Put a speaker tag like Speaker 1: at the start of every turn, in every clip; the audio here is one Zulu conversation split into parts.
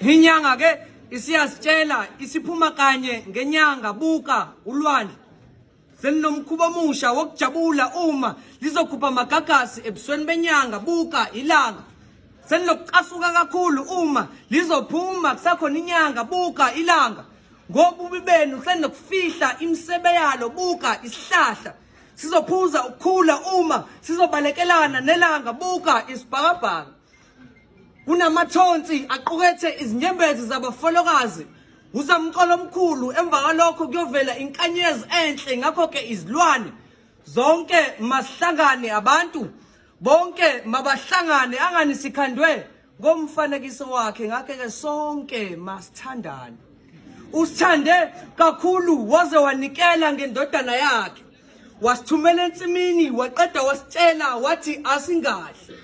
Speaker 1: Inyanga ke isiyasitshela isiphuma kanye ngenyanga buka ulwandle selinomkhuba omusha wokujabula uma lizokhupha amagagasi ebusweni benyanga buka ilanga senilokucasuka kakhulu uma lizophuma kusakhona inyanga buka ilanga ngobubi benu senokufihla imisebe yalo buka isihlahla sizophuza ukukhula uma sizobalekelana nelanga buka isibhakabhaka kunamathonsi aqukethe izinyembezi zabafolokazi usamqolo omkhulu emva kwalokho kuyovela inkanyezi enhle ngakho ke izilwane zonke masihlangane abantu bonke mabahlangane angani sikhandwe ngomfanekiso wakhe ngakhe ke sonke masithandane usithande kakhulu waze wanikela ngendodana yakhe wasithumela ensimini waqeda wasitshela wathi asingahle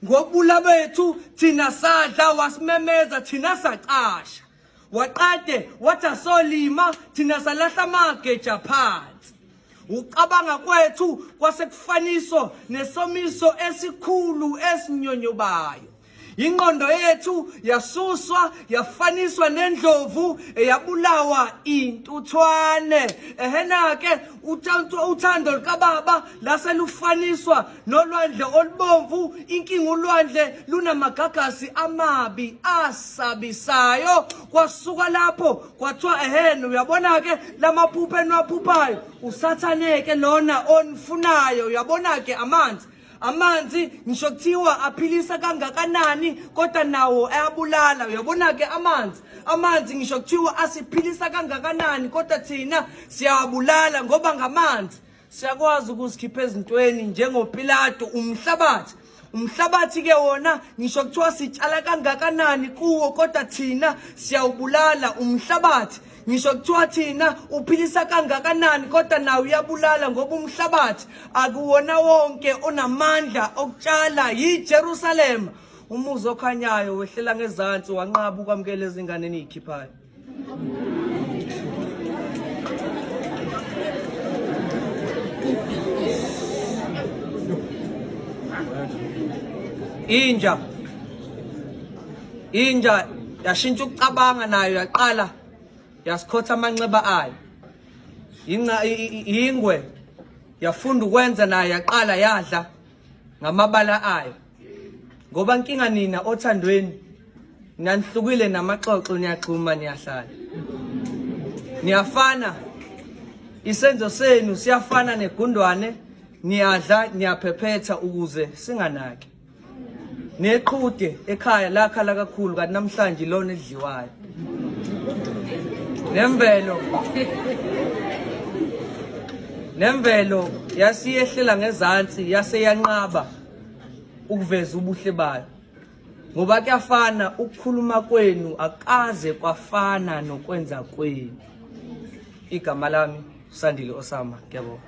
Speaker 1: ngokubula bethu thina sadla wasimemeza thina sacasha waqede wathi asolima thina salahla amageja phansi ucabanga kwethu kwasekufaniso nesomiso esikhulu esinyonyobayo ingqondo yethu yasuswa yafaniswa nendlovu eyabulawa intuthwane ehena ke uthando lukababa lase lufaniswa nolwandle olubomvu inkinga ulwandle lunamagagasi amabi asabisayo kwasuka lapho kwathiwa ehene uyabona-ke la maphupha eniwaphuphayo usathaneke lona onifunayo uyabona-ke amanzi amanzi ngisho kuthiwa aphilisa kangakanani kodwa nawo ayabulala uyabona ke amanzi amanzi ngisho kuthiwa asiphilisa kangakanani kodwa thina siyawabulala ngoba ngamanzi siyakwazi ukuzikhipha ezintweni njengopilato umhlabathi umhlabathi ke wona ngisho kuthiwa sitshala kangakanani kuwo kodwa thina siyawubulala umhlabathi ngisho kuthiwa thina uphilisa kangakanani kodwa nawe uyabulala ngoba umhlabathi akuwona wonke onamandla okutshala yiJerusalema umuzi okhanyayo wehlela ngezansi wanqaba ukwamukela izingane eniyikhiphayo inja inja yashintsha ukucabanga nayo yaqala yasikhotha amanxeba ayo yingwe yafunda ukwenza nayo yaqala yadla ngamabala ayo ngoba nkinga nina othandweni nanihlukile namaxoxo niyaxhuma niyahlala niyafana isenzo senu siyafana negundwane niyadla niyaphephetha ukuze singanaki neqhude ekhaya lakhala kakhulu kanti namhlanje ilona edliwayo nemvelo nemvelo yasiyehlela ngezansi yase yanqaba ukuveza ubuhle bayo ngoba kuyafana ukukhuluma kwenu akaze kwafana nokwenza kwenu igama lami usandile osama ngiyabonga